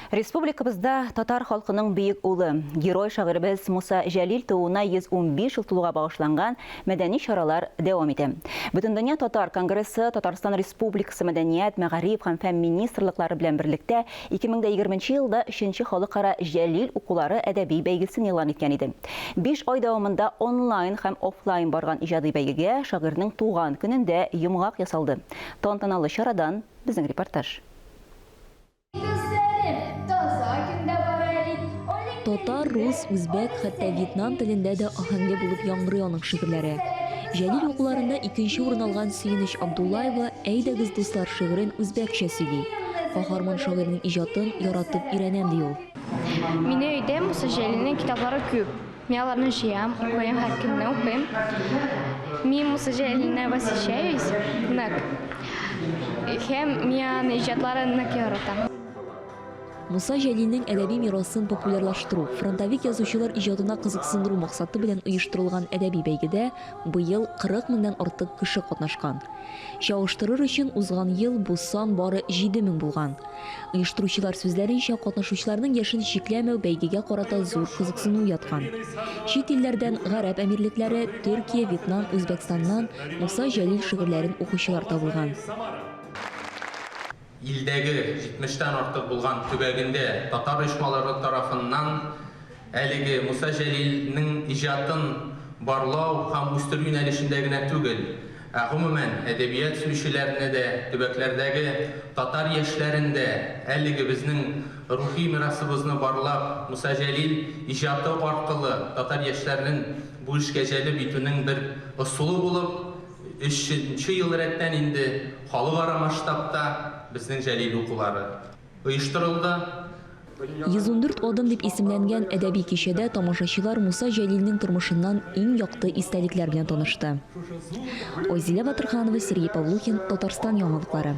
Республикабызда татар халкының бөек улы, герой шагыйребез Муса Җәлил тууына 115 ел тулуга багышланган мәдәни чаралар дәвам итә. Бөтендөнья татар конгрессы Татарстан Республикасы Мәдәният, мәгариф һәм фән министрлыклары белән берлектә 2020 елда өченче халыкара Җәлил укулары әдәби бәйгесен игълан иткән иде. Биш ай дәвамында онлайн һәм офлайн барган иҗади бәйгегә шагыйрьнең туган көнендә йомгак ясалды. Тантаналы чарадан безнең репортаж. Татар, рус, үзбәк, хәтта вьетнам телендә дә аһәңле булып яңгырый аның шигырьләре. Җәлил укуларында икенче урын алган Сөенеч Абдуллаева Әйдәгез, дуслар шигырен үзбәкчә сөйли. Каһарман шагыйрьнең иҗатын яратып өйрәнәм ди ул. Мине өйдә Муса Җәлилнең китаплары күп. Мин аларны җыям, укыйм, һәркөнне укыйм. Мин Муса Җәлилне восхищаюсь нык. Һәм мин аны иҗатларын нык яратам. Муса Җәлилнең әдәби мирасын популярлаштыру, фронтовик язучылар иҗатына кызыксындыру максаты белән оештырылган әдәби бәйгедә быел 40 меңнән артык кеше катнашкан. Чагыштырыр өчен, узган ел бу сан бары 7 мең булган. Оештыручылар сүзләренчә, катнашучыларның яшен чикләмәү бәйгегә карата зур кызыксыну уяткан. Чит илләрдән, Гарәп Әмирлекләре, Төркия, Вьетнам, Үзбәкстаннан Муса Җәлил шигырьләрен укучылар табылган. Илдәге 70 тән артык булган төбәгендә татар оешмалары тарафыннан Әлеге Муса Җәлилнең иҗатын барлау һәм үстерү юнәлешендә генә түгел, ә гомумән, әдәбият сөючеләрне дә, төбәкләрдәге татар яшьләрен дә әлеге безнең рухи мирасыбызны барлап, Муса Җәлил иҗаты аркылы татар яшьләрен бу эшкә җәлеп итүнең бер ысулы булып, өченче ел рәттән инде халыкара масштабта Безнең Җәлил укулары. оештырылды. 114 адым дип исемләнгән әдәби кичәдә тамашачылар Муса Җәлилнең тормышыннан иң якты истәлекләр белән танышты. Айзилә Батырханова, Сергей Павлухин, Татарстан яңалыклары.